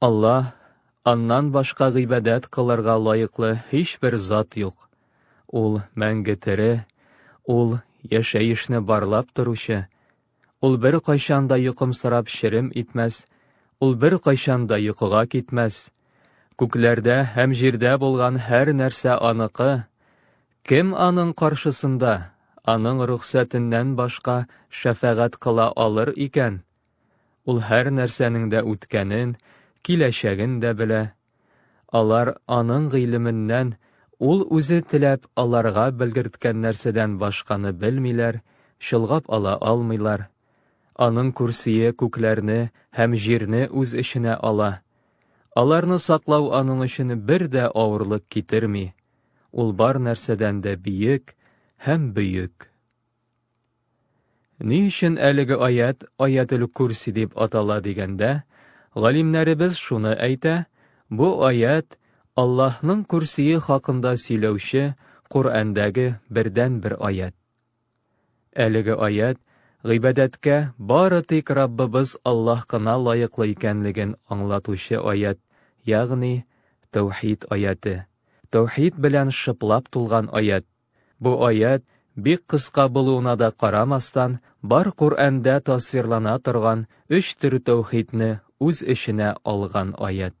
Аллаһ, аннан башка гыйбадәт кылырга лаеклы һичбер зат юк. Ул мәңге тере, ул яшәешне барлап торучы. Ул бер кайчан да йокымсырап шерем итмәс, ул бер кайчан да йокыга китмәс. Күкләрдә һәм җирдә булган һәр нәрсә аныкы. Кем аның каршысында, аның рөхсәтеннән башка шәфәгать кыла алыр икән? Ул һәр нәрсәнең дә үткәнен, киләчәген дә белә. Алар Аның гыйлеменнән, Ул Үзе теләп аларга белгерткән нәрсәдән башканы белмиләр, чолгап ала алмыйлар. Аның көрсие күкләрне һәм җирне үз эченә ала. Аларны саклау Аның өчен бер дә авырлык китерми. Ул бар нәрсәдән дә биек һәм бөек. Ни өчен әлеге аят аятел курси дип атала дигәндә, галимнәребез шуны әйтә, бу аят Аллаһның курсие хакында сөйләүче Коръәндәге бердән-бер аят. Әлеге аят гыйбадәткә бары тик Раббыбыз Аллаһ кына лаеклы икәнлеген аңлатучы аят, ягъни Тәүхид аяты. Тәүхид белән шыплап тулган аят. Бу аять, бик кыска булуына да карамастан, бар Коръәндә тасвирлана торган өч төр тәүхидне үз эченә алган аять.